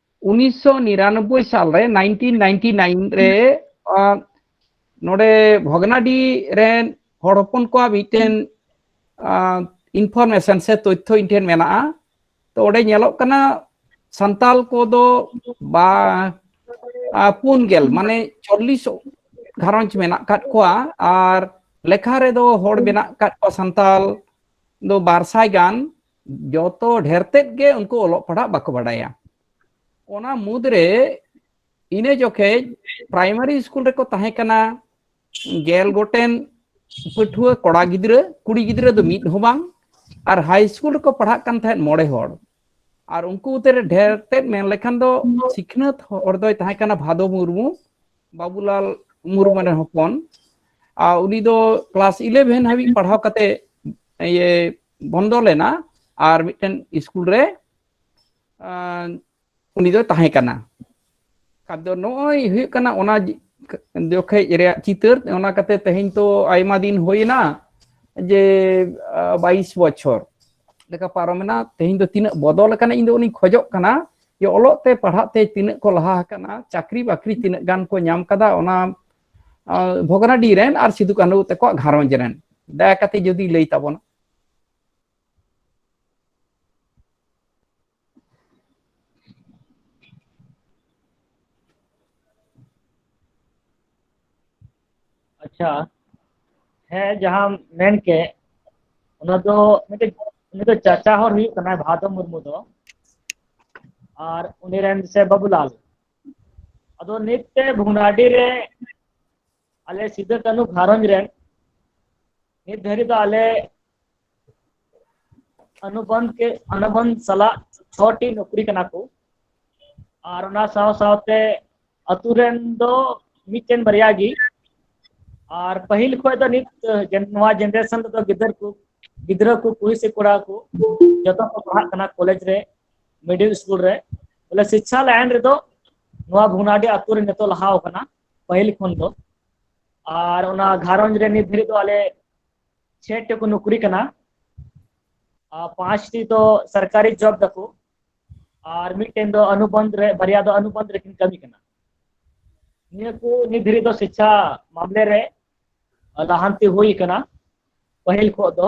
ᱩᱱᱤᱥᱥᱚ ᱱᱤᱨᱟᱱᱚᱵᱵᱳᱭ ᱥᱟᱞ ᱨᱮ ᱱᱟᱭᱤᱱᱴᱤᱱ ᱱᱟᱭᱤᱱᱴᱤ ᱱᱟᱭᱤᱱ ᱨᱮ ᱱᱚᱰᱮ ᱵᱷᱚᱜᱽᱱᱟᱰᱤ ᱨᱮᱱ ᱦᱚᱲ ᱦᱚᱯᱚᱱ ᱠᱚᱣᱟᱜ ᱢᱤᱫᱴᱮᱱ ᱤᱱᱯᱷᱚᱨᱢᱮᱥᱚᱱ ᱥᱮ ᱛᱚᱛᱷᱭᱚ ᱤᱧ ᱴᱷᱮᱱ ᱢᱮᱱᱟᱜᱼᱟ ᱛᱚ ᱚᱸᱰᱮ ᱧᱮᱞᱚᱜ ᱠᱟᱱᱟ ᱥᱟᱱᱛᱟᱞ ᱠᱚᱫᱚ ᱵᱟ ᱯᱩᱱ ᱜᱮᱞ ᱢᱟᱱᱮ ᱪᱚᱞᱞᱤᱥ ᱜᱷᱟᱨᱚᱸᱡᱽ ᱢᱮᱱᱟᱜ ᱟᱠᱟᱫ ᱠᱚᱣᱟ ᱟᱨ ᱞᱮᱠᱷᱟ ᱨᱮᱫᱚ ᱦᱚᱲ ᱢᱮᱱᱟᱜ ᱟᱠᱟᱫ ᱠᱚᱣᱟ ᱥᱟᱱᱛᱟᱞ ᱫᱚ ᱵᱟᱨ ᱥᱟᱭ ᱜᱟᱱ ᱡᱚᱛᱚ ᱰᱷᱮᱨ ᱛᱮᱫ ᱜᱮ ᱩᱱᱠᱩ ᱚᱞᱚᱜ ᱯᱟᱲᱦᱟᱜ ᱵᱟᱠᱚ ᱵᱟᱰᱟᱭᱟ ᱚᱱᱟ ᱢᱩᱫᱽᱨᱮ ᱤᱱᱟᱹ ᱡᱚᱠᱷᱮᱡ ᱯᱨᱟᱭᱢᱟᱨᱤ ᱥᱠᱩᱞ ᱨᱮᱠᱚ ᱛᱟᱦᱮᱸ ᱠᱟᱱᱟ ᱜᱮᱞ ᱜᱚᱴᱮᱱ ᱯᱟᱹᱴᱷᱩᱣᱟᱹ ᱠᱚᱲᱟ ᱜᱤᱫᱽᱨᱟᱹ ᱠᱩᱲᱤ ᱜᱤᱫᱽᱨᱟᱹ ᱫᱚ ᱢᱤᱫ ᱦᱚᱸ ᱵᱟᱝ ᱟᱨ ᱦᱟᱭ ᱥᱠᱩᱞ ᱨᱮᱠᱚ ᱯᱟᱲᱦᱟᱜ ᱠᱟᱱ ᱛᱟᱦᱮᱸᱫ ᱢᱚᱬᱮ ᱦᱚᱲ ᱟᱨ ᱩᱱᱠᱩ ᱩᱛᱟᱹᱨ ᱰᱷᱮᱨ ᱛᱮᱫ ᱢᱮᱱ ᱞᱮᱠᱷᱟᱱ ᱫᱚ ᱥᱤᱠᱷᱱᱟᱹᱛ ᱦᱚᱲ ᱫᱚᱭ ᱛᱟᱦᱮᱸ ᱠᱟᱱᱟ ᱵᱷᱟᱫᱚ ᱢᱩᱨᱢᱩ ᱵᱟᱵᱩᱞᱟᱞ ᱢᱩᱨᱢᱩ ᱨᱮᱱ ᱦᱚᱯᱚᱱ ᱟᱨ ᱩᱱᱤ ᱫᱚ ᱠᱞᱟᱥ ᱤᱞᱮᱵᱷᱮᱱ ᱦᱟᱹᱵᱤᱡ ᱯᱟᱲᱦᱟᱣ ᱠᱟᱛᱮ ᱤᱭᱟᱹ ᱵᱚᱱᱫᱚ ᱞᱮᱱᱟ ᱟᱨ ᱢᱤᱫᱴᱮᱱ ᱥᱠᱩᱞ ᱨᱮ ᱩᱱᱤ ᱫᱚ ᱛᱟᱦᱮᱸ ᱠᱟᱱᱟ ᱟᱫᱚ ᱱᱚᱜᱼᱚᱭ ᱦᱩᱭᱩᱜ ᱠᱟᱱᱟ ᱚᱱᱟ ᱡᱚᱠᱷᱮᱡ ᱨᱮᱭᱟᱜ ᱪᱤᱛᱟᱹᱨ ᱚᱱᱟ ᱠᱟᱛᱮ ᱛᱮᱦᱮᱧ ᱛᱚ ᱟᱭᱢᱟ ᱫᱤᱱ ᱦᱩᱭᱱᱟ ᱡᱮ ᱵᱟᱭᱤᱥ ᱵᱚᱪᱷᱚᱨ ᱞᱮᱠᱟ ᱯᱟᱨᱚᱢᱮᱱᱟ ᱛᱮᱦᱮᱧ ᱫᱚ ᱛᱤᱱᱟᱹᱜ ᱵᱚᱫᱚᱞ ᱟᱠᱟᱱᱟ ᱤᱧ ᱫᱚ ᱩᱱᱤᱧ ᱠᱷᱚᱡᱚᱜ ᱠᱟᱱᱟ ᱡᱮ ᱚᱞᱚᱜ ᱛᱮ ᱯᱟᱲᱦᱟᱜ ᱛᱮ ᱛᱤᱱᱟᱹᱜ ᱠᱚ ᱞᱟᱦᱟ ᱟᱠᱟᱱᱟ ᱪᱟᱹᱠᱨᱤ ᱵᱟᱹᱠᱨᱤ ᱛᱤᱱᱟᱹᱜ ᱜᱟᱱ ᱠᱚ ᱧᱟᱢ ᱠᱟᱫᱟ ᱚᱱᱟ ᱵᱷᱚᱜᱽᱱᱟᱰᱤ ᱨᱮᱱ ᱟᱨ ᱥᱤᱫᱩ ᱠᱟᱹᱱᱦᱩ ᱛᱟᱠᱚᱣᱟᱜ ᱜᱷᱟᱨᱚᱸᱡᱽ ᱨᱮᱱ ᱫᱟᱭᱟ ᱠᱟᱛᱮ ᱡᱩᱫᱤ ᱞᱟᱹᱭ ᱛᱟᱵᱚᱱᱟ ᱟᱪᱪᱷᱟ ᱦᱮᱸ ᱡᱟᱦᱟᱸ ᱢᱮᱱ ᱠᱮᱫ ᱚᱱᱟ ᱫᱚ ᱢᱤᱫᱴᱮᱡ ᱩᱱᱤ ᱫᱚ ᱪᱟᱪᱟ ᱦᱚᱲ ᱦᱩᱭᱩᱜ ᱠᱟᱱᱟᱭ ᱵᱷᱟᱫᱚ ᱢᱩᱨᱢᱩ ᱫᱚ ᱟᱨ ᱩᱱᱤ ᱨᱮᱱ ᱥᱮ ᱵᱟᱵᱩᱞᱟᱞ ᱟᱫᱚ ᱱᱤᱛ ᱛᱮ ᱵᱷᱚᱜᱽᱱᱟᱰᱤ ᱨᱮ ᱟᱞᱮ ᱥᱤᱫᱩ ᱠᱟᱹᱱᱦᱩ ᱜᱷᱟᱨᱚᱸᱡᱽ ᱨᱮ ᱱᱤᱛ ᱫᱷᱟᱹᱨᱤᱡ ᱫᱚ ᱟᱞᱮ ᱚᱱᱩᱵᱚᱱᱫᱷ ᱠᱮ ᱚᱱᱩᱵᱚᱱᱫᱷ ᱥᱟᱞᱟᱜ ᱪᱷᱚᱴᱤ ᱱᱚᱠᱨᱤ ᱠᱟᱱᱟ ᱠᱚ ᱟᱨ ᱚᱱᱟ ᱥᱟᱶ ᱥᱟᱶᱛᱮ ᱟᱛᱳ ᱨᱮᱱ ᱫᱚ ᱢᱤᱫᱴᱮᱱ ᱵᱟᱨᱭᱟ ᱜᱮ ᱟᱨ ᱯᱟᱹᱦᱤᱞ ᱠᱷᱚᱱ ᱫᱚ ᱱᱤᱛ ᱱᱚᱣᱟ ᱡᱮᱱᱟᱨᱮᱥᱚᱱ ᱨᱮᱫᱚ ᱜᱤᱫᱟᱹᱨ ᱠᱚ ᱜᱤᱫᱽᱨᱟᱹ ᱠᱚ ᱠᱩᱲᱤ ᱥᱮ ᱠᱚᱲᱟ ᱠᱚ ᱡᱚᱛᱚ ᱠᱚ ᱯᱟᱲᱦᱟᱜ ᱠᱟᱱᱟ ᱠᱚᱞᱮᱡᱽ ᱨᱮ ᱢᱤᱰᱤᱞ ᱥᱠᱩᱞ ᱨᱮ ᱵᱚᱞᱮ ᱥᱤᱠᱪᱷᱟ ᱞᱟᱭᱤᱱ ᱨᱮᱫᱚ ᱱᱚᱣᱟ ᱵᱷᱩᱱᱟᱰᱤ ᱟᱛᱳ ᱨᱮ ᱱᱤᱛᱚᱜ ᱞᱟᱦᱟᱣ ᱠᱟᱱᱟ ᱯᱟᱹᱦᱤᱞ ᱠᱷᱚᱱ ᱫᱚ ᱟᱨ ᱚᱱᱟ ᱜᱷᱟᱨᱚᱸᱡᱽ ᱨᱮ ᱱᱤᱛ ᱫᱷᱟᱹᱨᱤᱡ ᱫᱚ ᱟᱞᱮ ᱪᱷᱮ ᱴᱤ ᱠᱚ ᱱᱚᱠᱨᱤ ᱠᱟᱱᱟ ᱟᱨ ᱯᱟᱸᱪ ᱴᱤ ᱫᱚ ᱥᱚᱨᱠᱟᱨᱤ ᱡᱚᱵ ᱫᱟᱠᱚ ᱟᱨ ᱢᱤᱫᱴᱮᱱ ᱫᱚ ᱚᱱᱩᱵᱚᱱᱫᱷ ᱨᱮ ᱵᱟᱨᱭᱟ ᱫᱚ ᱚᱱᱩᱵᱚᱱᱫᱷ ᱨᱮᱠᱤᱱ ᱠᱟᱹᱢᱤ ᱠᱟᱱᱟ ᱱᱤᱭᱟᱹ ᱠᱚ ᱱᱤᱛ ᱫᱷᱟᱹᱨᱤᱡ ᱫᱚ ᱥᱤᱠᱪᱷᱟ ᱢᱟᱢᱞᱮ ᱨᱮ ᱞᱟᱦᱟᱱᱛᱤ ᱦᱩᱭ ᱠᱟᱱᱟ ᱯᱟᱹᱦᱤᱞ ᱠᱷᱚᱱ ᱫᱚ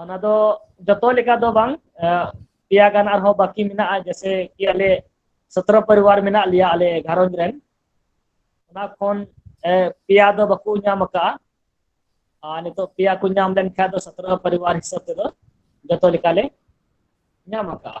ᱚᱱᱟ ᱫᱚ ᱡᱚᱛᱚ ᱞᱮᱠᱟ ᱫᱚ ᱵᱟᱝ ᱯᱮᱭᱟ ᱜᱟᱱ ᱟᱨᱦᱚᱸ ᱵᱟᱹᱠᱤ ᱢᱮᱱᱟᱜᱼᱟ ᱡᱮᱥᱮ ᱠᱤ ᱟᱞᱮ ᱥᱚᱛᱨᱚ ᱯᱚᱨᱤᱵᱟᱨ ᱢᱮᱱᱟᱜ ᱞᱮᱭᱟ ᱟᱞᱮ ᱜᱷᱟᱨᱚᱸᱡᱽ ᱨᱮᱱ ᱚᱱᱟ ᱠᱷᱚᱱ ᱯᱮᱭᱟ ᱫᱚ ᱵᱟᱠᱚ ᱧᱟᱢ ᱟᱠᱟᱫᱼᱟ ᱟᱨ ᱱᱤᱛᱚᱜ ᱯᱮᱭᱟ ᱠᱚ ᱧᱟᱢ ᱞᱮᱱᱠᱷᱟᱱ ᱫᱚ ᱥᱚᱛᱨᱚ ᱯᱚᱨᱤᱵᱟᱨ ᱦᱤᱥᱟᱹᱵ ᱛᱮᱫᱚ ᱡᱚᱛᱚ ᱞᱮᱠᱟᱞᱮ ᱧᱟᱢ ᱟᱠᱟᱫᱼᱟ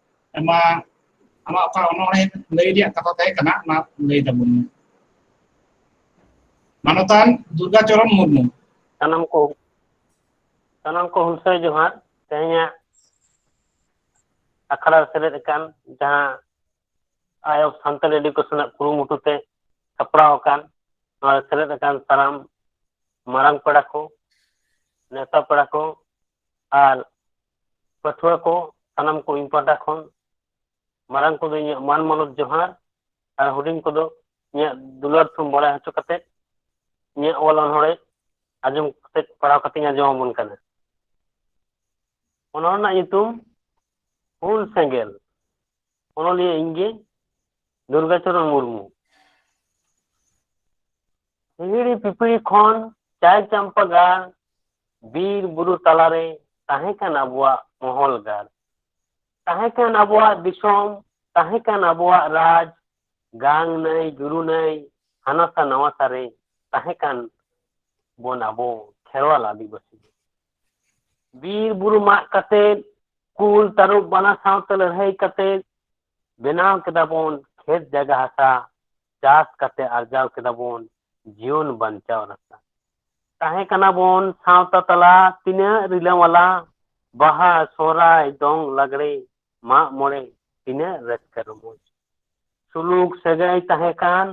ᱟᱭᱢᱟ ᱟᱢᱟᱜ ᱚᱠᱟ ᱚᱱᱚᱬᱦᱮ ᱞᱟᱹᱭ ᱨᱮᱭᱟᱜ ᱠᱟᱛᱷᱟ ᱛᱟᱦᱮᱸ ᱠᱟᱱᱟ ᱚᱱᱟ ᱞᱟᱹᱭ ᱛᱟᱵᱚᱱ ᱢᱮ ᱢᱟᱱᱚᱛᱟᱱ ᱫᱩᱨᱜᱟᱪᱚᱨᱚᱱ ᱢᱩᱨᱢᱩ ᱥᱟᱱᱟᱢ ᱠᱚ ᱥᱟᱱᱟᱢ ᱠᱚ ᱦᱩᱞᱥᱟᱹᱭ ᱡᱚᱦᱟᱨ ᱛᱮᱦᱮᱧᱟᱜ ᱟᱠᱷᱲᱟ ᱨᱮ ᱥᱮᱞᱮᱫ ᱟᱠᱟᱱ ᱡᱟᱦᱟᱸ ᱟᱭ ᱚᱯᱷ ᱥᱟᱱᱛᱟᱲ ᱮᱰᱩᱠᱮᱥᱚᱱ ᱨᱮᱱᱟᱜ ᱠᱩᱨᱩᱢᱩᱴᱩ ᱛᱮ ᱥᱟᱯᱲᱟᱣ ᱟᱠᱟᱱ ᱱᱚᱣᱟ ᱨᱮ ᱥᱮᱞᱮᱫ ᱟᱠᱟᱱ ᱥᱟᱱᱟᱢ ᱢᱟᱨᱟᱝ ᱯᱮᱲᱟ ᱠᱚ ᱱᱮᱣᱛᱟ ᱯᱮᱲᱟ ᱠᱚ ᱟᱨ ᱯᱟᱹᱴᱷᱩᱣᱟᱹ ᱠᱚ ᱥᱟᱱᱟᱢ ᱠᱚ ᱤᱧ ᱯᱟᱦᱴᱟ ᱠᱷᱚᱱ ᱢᱟᱨᱟᱝ ᱠᱚᱫᱚ ᱤᱧᱟᱹᱜ ᱢᱟᱱ ᱢᱟᱱᱚᱛ ᱡᱚᱦᱟᱨ ᱟᱨ ᱦᱩᱰᱤᱧ ᱠᱚᱫᱚ ᱤᱧᱟᱹᱜ ᱫᱩᱞᱟᱹᱲ ᱛᱷᱩᱢ ᱵᱟᱲᱟᱭ ᱦᱚᱪᱚ ᱠᱟᱛᱮ ᱤᱧᱟᱹᱜ ᱚᱞ ᱚᱱᱚᱲᱮ ᱟᱸᱡᱚᱢ ᱠᱟᱛᱮ ᱯᱟᱲᱦᱟᱣ ᱠᱟᱛᱮᱧ ᱟᱸᱡᱚᱢ ᱟᱵᱚᱱ ᱠᱟᱱᱟ ᱚᱱᱚᱲ ᱨᱮᱱᱟᱜ ᱧᱩᱛᱩᱢ ᱦᱩᱞ ᱥᱮᱸᱜᱮᱞ ᱚᱱᱚᱞᱤᱭᱟᱹ ᱤᱧ ᱜᱮ ᱫᱩᱨᱜᱟᱪᱚᱨᱚᱱ ᱢᱩᱨᱢᱩ ᱦᱤᱦᱤᱲᱤ ᱯᱤᱯᱤᱲᱤ ᱠᱷᱚᱱ ᱪᱟᱭ ᱪᱟᱢᱯᱟ ᱜᱟᱲ ᱵᱤᱨ ᱵᱩᱨᱩ ᱛᱟᱞᱟᱨᱮ ᱛᱟᱦᱮᱸ ᱠᱟᱱ ᱟᱵᱚᱣᱟᱜ ᱢᱚᱦᱚᱞ ᱜᱟᱲ ᱛᱟᱦᱮᱸ ᱠᱟᱱ ᱟᱵᱚᱣᱟᱜ ᱫᱤᱥᱚᱢ ᱛᱟᱦᱮᱸ ᱠᱟᱱ ᱟᱵᱚᱣᱟᱜ ᱨᱟᱡᱽ ᱜᱟᱝ ᱱᱟᱹᱭ ᱡᱩᱨᱩ ᱱᱟᱹᱭ ᱦᱟᱱᱟᱥᱟ ᱱᱟᱣᱟᱥᱟ ᱨᱮ ᱛᱟᱦᱮᱸ ᱠᱟᱱ ᱵᱚᱱ ᱟᱵᱚ ᱠᱷᱮᱨᱣᱟᱞ ᱟᱹᱫᱤᱵᱟᱹᱥᱤ ᱵᱤᱨ ᱵᱩᱨᱩ ᱢᱟᱜ ᱠᱟᱛᱮ ᱠᱩᱞ ᱛᱟᱹᱨᱩᱵ ᱵᱟᱱᱟ ᱥᱟᱶᱛᱮ ᱞᱟᱹᱲᱦᱟᱹᱭ ᱠᱟᱛᱮ ᱵᱮᱱᱟᱣ ᱠᱮᱫᱟ ᱵᱚᱱ ᱠᱷᱮᱛ ᱡᱟᱭᱜᱟ ᱦᱟᱥᱟ ᱪᱟᱥ ᱠᱟᱛᱮ ᱟᱨᱡᱟᱣ ᱠᱮᱫᱟ ᱵᱚᱱ ᱡᱤᱭᱚᱱ ᱵᱟᱧᱪᱟᱣ ᱨᱟᱥᱛᱟ ᱛᱟᱦᱮᱸ ᱠᱟᱱᱟ ᱵᱚᱱ ᱥᱟᱶᱛᱟ ᱛᱟᱞᱟ ᱛᱤᱱᱟᱹᱜ ᱨᱤᱞᱟᱹᱢᱟᱞᱟ ᱵᱟᱦᱟ ᱥᱚᱦᱨᱟᱭ ᱫᱚᱝ ᱞᱟᱜᱽᱲᱮ ᱢᱟᱜ ᱢᱚᱬᱮ ᱛᱤᱱᱟᱹᱜ ᱨᱟᱹᱥᱠᱟᱹ ᱨᱚᱢᱚᱡᱽ ᱥᱩᱞᱩᱠ ᱥᱟᱹᱜᱟᱹᱭ ᱛᱟᱦᱮᱸ ᱠᱟᱱ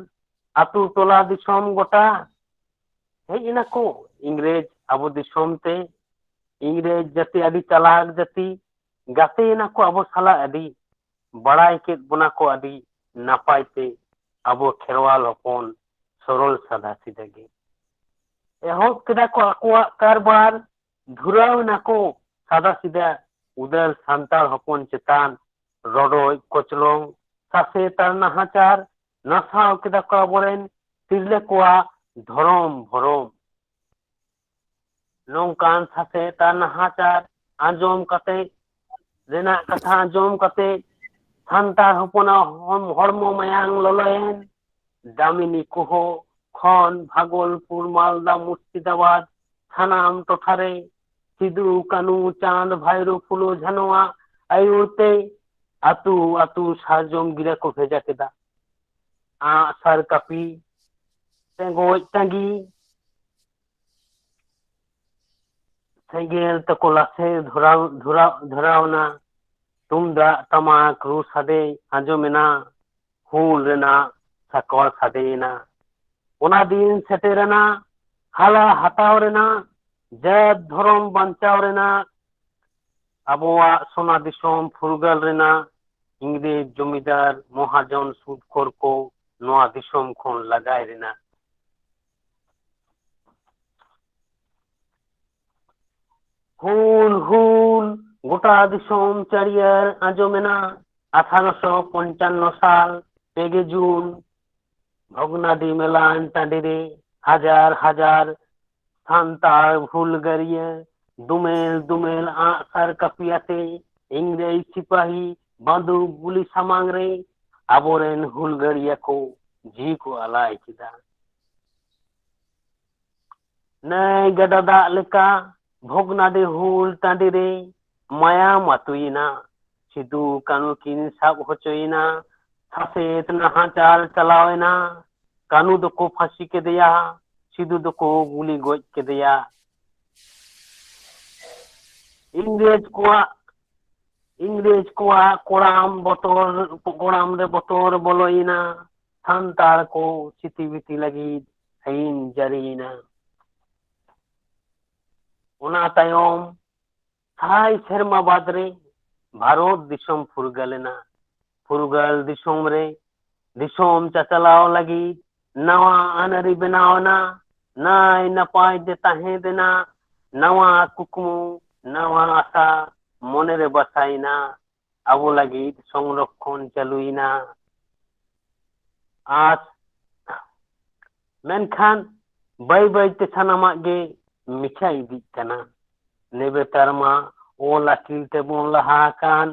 ᱟᱛᱳ ᱴᱚᱞᱟ ᱫᱤᱥᱚᱢ ᱜᱚᱴᱟ ᱦᱮᱡ ᱮᱱᱟ ᱠᱚ ᱤᱝᱨᱮᱡᱽ ᱟᱵᱚ ᱫᱤᱥᱚᱢ ᱛᱮ ᱤᱝᱨᱮᱡᱽ ᱡᱟᱹᱛᱤ ᱟᱹᱰᱤ ᱪᱟᱞᱟᱠ ᱡᱟᱹᱛᱤ ᱜᱟᱛᱮᱭᱮᱱᱟ ᱠᱚ ᱟᱵᱚ ᱥᱟᱞᱟᱜ ᱟᱹᱰᱤ ᱵᱟᱲᱟᱭ ᱠᱮᱫ ᱵᱚᱱᱟ ᱠᱚ ᱟᱹᱰᱤ ᱱᱟᱯᱟᱭ ᱛᱮ ᱟᱵᱚ ᱠᱷᱮᱨᱣᱟᱞ ᱦᱚᱯᱚᱱ ᱥᱚᱨᱚᱞ ᱥᱟᱫᱟ ᱥᱤᱫᱟ ᱜᱮ ᱮᱦᱚᱵ ᱠᱮᱫᱟ ᱠᱚ ᱟᱠᱚᱣᱟᱜ ᱠᱟᱨᱵᱟᱨ ᱫᱷᱩᱨᱟᱣ ᱮᱱᱟ ᱠᱚ ᱥᱟᱫᱟ ᱥᱤᱫᱟ ᱩᱫᱟᱹᱨ ᱥᱟᱱᱛᱟᱲ ᱦᱚᱯᱚᱱ ᱪᱮᱛᱟᱱ ᱨᱚᱰᱚᱡ ᱠᱚᱪᱞᱚᱝ ᱥᱟᱥᱮᱛ ᱟᱨ ᱱᱟᱦᱟᱪᱟᱨ ᱱᱟᱥᱟᱣ ᱠᱮᱫᱟ ᱠᱚ ᱟᱵᱚᱨᱮᱱ ᱛᱤᱨᱞᱟᱹ ᱠᱚᱣᱟᱜ ᱫᱷᱚᱨᱚᱢ ᱵᱷᱚᱨᱚᱢ ᱱᱚᱝᱠᱟᱱ ᱥᱟᱥᱮᱛ ᱟᱨ ᱱᱟᱦᱟᱪᱟᱨ ᱟᱸᱡᱚᱢ ᱠᱟᱛᱮᱫ ᱨᱮᱱᱟᱜ ᱠᱟᱛᱷᱟ ᱟᱸᱡᱚᱢ ᱠᱟᱛᱮᱫ ᱥᱟᱱᱛᱟᱲ ᱦᱚᱯᱚᱱᱟᱜ ᱦᱚᱲᱢᱚ ᱢᱟᱭᱟᱝ ᱞᱚᱞᱚᱭᱮᱱ ᱫᱟᱢᱤᱱᱤ ᱠᱚᱦᱚ ᱠᱷᱚᱱ ᱵᱷᱟᱜᱚᱞᱯᱩᱨ ᱢᱟᱞᱫᱟ ᱢᱩᱨᱥᱤᱫᱟᱵᱟᱫᱽ ᱥᱟᱱᱟᱢ ᱴᱚᱴᱷᱟᱨᱮ ᱥᱤᱫᱩ ᱠᱟᱹᱱᱩ ᱪᱟᱸᱫᱽ ᱵᱷᱟᱭᱨᱳ ᱯᱷᱩᱞᱳ ᱡᱷᱟᱱᱚᱣᱟᱜ ᱟᱹᱭᱩᱨ ᱛᱮ ᱟᱹᱛᱩ ᱟᱹᱛᱩ ᱥᱟᱨᱡᱚᱢ ᱜᱤᱨᱟᱹ ᱠᱚ ᱵᱷᱮᱡᱟ ᱠᱮᱫᱟ ᱟᱸᱜ ᱥᱟᱨ ᱠᱟᱹᱯᱤ ᱴᱮᱸᱜᱚᱡ ᱴᱟᱺᱜᱤ ᱥᱮᱸᱜᱮᱞ ᱛᱮᱠᱚ ᱞᱟᱥᱮᱨ ᱫᱷᱚᱨᱟᱣ ᱫᱷᱚᱨᱟᱣ ᱫᱷᱚᱨᱟᱣ ᱮᱱᱟ ᱛᱩᱢᱫᱟᱜ ᱴᱟᱢᱟᱠ ᱨᱩ ᱥᱟᱰᱮ ᱟᱸᱡᱚᱢ ᱮᱱᱟ ᱦᱩᱞ ᱨᱮᱱᱟᱜ ᱥᱟᱠᱣᱟ ᱥᱟᱰᱮ ᱮᱱᱟ ᱚᱱᱟ ᱫᱤᱱ ᱥᱮᱴᱮᱨ ᱮᱱᱟ ᱦᱟᱞᱟ ᱦᱟᱛᱟᱣ ᱨᱮᱱᱟᱜ ᱡᱟᱹᱛ ᱫᱷᱚᱨᱚᱢ ᱵᱟᱧᱪᱟᱣ ᱨᱮᱱᱟᱜ ᱟᱵᱚᱣᱟᱜ ᱥᱚᱱᱟ ᱫᱤᱥᱚᱢ ᱯᱷᱩᱨᱜᱟᱹᱞ ᱨᱮᱱᱟᱜ ᱤᱝᱨᱮᱡᱽ ᱡᱚᱢᱤᱫᱟᱨ ᱢᱚᱦᱟᱡᱚᱱ ᱥᱩᱫᱽ ᱠᱷᱚᱨ ᱠᱚ ᱱᱚᱣᱟ ᱫᱤᱥᱚᱢ ᱠᱷᱚᱱ ᱞᱟᱜᱟᱭ ᱨᱮᱱᱟᱜ ᱦᱩᱞ ᱦᱩᱞ ᱜᱚᱴᱟ ᱫᱤᱥᱚᱢ ᱪᱟᱹᱨᱤᱭᱟᱹᱨ ᱟᱸᱡᱚᱢᱮᱱᱟ ᱟᱴᱷᱟᱨᱚᱥᱚ ᱯᱚᱧᱪᱟᱱᱱᱚ ᱥᱟᱞ ᱯᱮᱜᱮ ᱡᱩᱱ ᱵᱷᱚᱜᱽᱱᱟᱰᱤ ᱢᱮᱞᱟᱱ ᱴᱟᱺᱰᱤ ᱨᱮ ᱦᱟᱡᱟᱨ ᱦᱟᱡᱟᱨ ᱥᱟᱱᱛᱟᱲ ᱦᱩᱞᱜᱟᱹᱨᱤᱭᱟᱹ ᱫᱩᱢᱮᱞ ᱫᱩᱢᱮᱞ ᱟᱸᱜ ᱥᱟᱨ ᱠᱟᱹᱯᱤ ᱟᱛᱮ ᱤᱝᱨᱮᱡᱽ ᱥᱤᱯᱟᱦᱤ ᱵᱟᱸᱫᱩᱠ ᱜᱩᱞᱤ ᱥᱟᱢᱟᱝ ᱨᱮ ᱟᱵᱚᱨᱮᱱ ᱦᱩᱞᱜᱟᱹᱨᱤᱭᱟᱹ ᱠᱚ ᱡᱤᱣᱤ ᱠᱚ ᱟᱞᱟᱭ ᱠᱮᱫᱟ ᱱᱟᱹᱭ ᱜᱟᱰᱟ ᱫᱟᱜ ᱞᱮᱠᱟ ᱵᱷᱚᱜᱽᱱᱟᱰᱤ ᱦᱩᱞ ᱴᱟᱺᱰᱤ ᱨᱮ ᱢᱟᱭᱟᱢ ᱟᱹᱛᱩᱭᱮᱱᱟ ᱥᱤᱫᱩ ᱠᱟᱹᱱᱩ ᱠᱤᱱ ᱥᱟᱵ ᱦᱚᱪᱚᱭᱮᱱᱟ ᱥᱟᱥᱮᱛ ᱱᱟᱦᱟᱪᱟᱨ ᱪᱟᱞᱟᱣᱮᱱᱟ ᱠᱟᱹᱱᱩ ᱫᱚᱠᱚ ᱯᱷᱟᱹᱥᱤ ᱠᱮᱫᱮᱭᱟ ᱥᱤᱫᱩ ᱫᱚᱠᱚ ᱜᱩᱞᱤ ᱜᱚᱡ ᱠᱮᱫᱮᱭᱟ ᱤᱝᱨᱮᱡᱽ ᱠᱚᱣᱟᱜ ᱤᱝᱨᱮᱡᱽ ᱠᱚᱣᱟᱜ ᱠᱚᱲᱟᱢ ᱵᱚᱛᱚᱨ ᱠᱚᱲᱟᱢ ᱨᱮ ᱵᱚᱛᱚᱨ ᱵᱚᱞᱚᱭᱮᱱᱟ ᱥᱟᱱᱛᱟᱲ ᱠᱚ ᱥᱤᱛᱤᱵᱤᱛᱤ ᱞᱟᱹᱜᱤᱫ ᱟᱹᱭᱤᱱ ᱡᱟᱹᱨᱤᱭᱮᱱᱟ ᱚᱱᱟ ᱛᱟᱭᱚᱢ ᱥᱟᱭ ᱥᱮᱨᱢᱟ ᱵᱟᱫᱽ ᱨᱮ ᱵᱷᱟᱨᱚᱛ ᱫᱤᱥᱚᱢ ᱯᱷᱩᱨᱜᱟᱹᱞ ᱮᱱᱟ ᱯᱷᱩᱨᱜᱟᱹᱞ ᱫᱤᱥᱚᱢ ᱨᱮ ᱫᱤᱥᱚᱢ ᱪᱟᱪᱟᱞᱟᱣ ᱞᱟᱹᱜᱤᱫ ᱱᱟᱣᱟ ᱟᱹᱱ ᱟᱹᱨᱤ ᱵᱮᱱᱟᱣ ᱮᱱᱟ ᱱᱟᱭ ᱱᱟᱯᱟᱭ ᱛᱮ ᱛᱟᱦᱮᱸ ᱨᱮᱱᱟᱜ ᱱᱟᱣᱟ ᱠᱩᱠᱢᱩ ᱱᱟᱣᱟ ᱟᱥᱟ ᱢᱚᱱᱮᱨᱮ ᱵᱟᱥᱟᱭᱮᱱᱟ ᱟᱵᱚ ᱞᱟᱹᱜᱤᱫ ᱥᱚᱝᱨᱚᱠᱷᱚᱱ ᱪᱟᱹᱞᱩᱭᱮᱱᱟ ᱟᱨ ᱢᱮᱱᱠᱷᱟᱱ ᱵᱟᱹᱭ ᱵᱟᱹᱭᱛᱮ ᱥᱟᱱᱟᱢᱟᱜ ᱜᱮ ᱢᱤᱪᱷᱟ ᱤᱫᱤᱜ ᱠᱟᱱᱟ ᱱᱮᱵᱮᱛᱟᱨ ᱢᱟ ᱚᱞ ᱟᱹᱠᱤᱞ ᱛᱮᱵᱚᱱ ᱞᱟᱦᱟ ᱟᱠᱟᱱ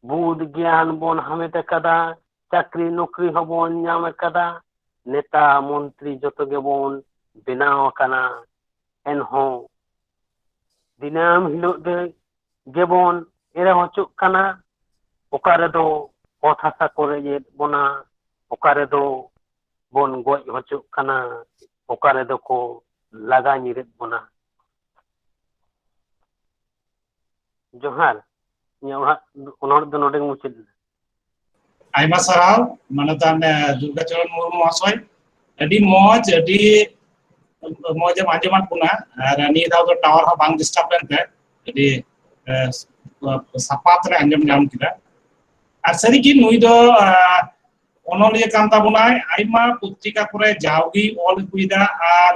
ᱵᱩᱫ ᱜᱮᱭᱟᱱ ᱵᱚᱱ ᱦᱟᱢᱮᱴ ᱟᱠᱟᱫᱟ ᱪᱟᱹᱠᱨᱤ ᱱᱚᱠᱨᱤ ᱦᱚᱸᱵᱚᱱ ᱧᱟᱢ ᱟᱠᱟᱫᱟ ᱱᱮᱛᱟ ᱢᱚᱱᱛᱨᱤ ᱡᱚᱛᱚ ᱜᱮᱵᱚᱱ ᱵᱮᱱᱟᱣ ᱟᱠᱟᱱᱟ ᱮᱱᱦᱚᱸ ᱫᱤᱱᱟᱹᱢ ᱦᱤᱞᱳᱜ ᱫᱚ ᱜᱮᱵᱚᱱ ᱮᱲᱮ ᱦᱚᱪᱚᱜ ᱠᱟᱱᱟ ᱚᱠᱟ ᱨᱮᱫᱚ ᱚᱛ ᱦᱟᱥᱟ ᱠᱚ ᱨᱮᱡᱮᱫ ᱵᱚᱱᱟ ᱚᱠᱟ ᱨᱮᱫᱚ ᱵᱚᱱ ᱜᱚᱡ ᱦᱚᱪᱚᱜ ᱠᱟᱱᱟ ᱚᱠᱟ ᱨᱮᱫᱚ ᱠᱚ ᱞᱟᱜᱟ ᱧᱤᱨᱮᱫ ᱵᱚᱱᱟ ᱡᱚᱦᱟᱨ ᱤᱧᱟᱹᱜ ᱚᱲᱟᱜ ᱚᱱᱚᱲ ᱫᱚ ᱱᱚᱰᱮ ᱢᱩᱪᱟᱹᱫ ᱮᱱᱟ ᱟᱭᱢᱟ ᱥᱟᱨᱦᱟᱣ ᱢᱟᱱᱚᱛᱟᱱ ᱫᱩᱨᱜᱟᱪᱚᱨᱚᱱ ᱢᱩᱨᱢᱩ ᱢᱚᱦᱟᱥᱚᱭ ᱟᱹᱰᱤ ᱢᱚᱡᱽ ᱟᱹᱰᱤ ᱢᱚᱡᱽ ᱮᱢ ᱟᱸᱡᱚᱢᱟᱫ ᱵᱚᱱᱟ ᱟᱨ ᱱᱤᱭᱟᱹ ᱫᱷᱟᱣ ᱫᱚ ᱴᱟᱣᱟᱨ ᱦᱚᱸ ᱵᱟᱝ ᱰᱤᱥᱴᱟᱵ ᱞᱮᱱᱛᱮ ᱟᱹᱰᱤ ᱥᱟᱯᱟᱛ ᱨᱮ ᱟᱸᱡᱚᱢ ᱧᱟᱢ ᱠᱮᱫᱟ ᱟᱨ ᱥᱟᱹᱨᱤᱜᱮ ᱱᱩᱭ ᱫᱚ ᱚᱱᱚᱞᱤᱭᱟᱹ ᱠᱟᱱ ᱛᱟᱵᱚᱱᱟᱭ ᱟᱭᱢᱟ ᱯᱚᱛᱨᱤᱠᱟ ᱠᱚᱨᱮ ᱡᱟᱣᱜᱮ ᱚᱞ ᱟᱹᱜᱩᱭᱮᱫᱟ ᱟᱨ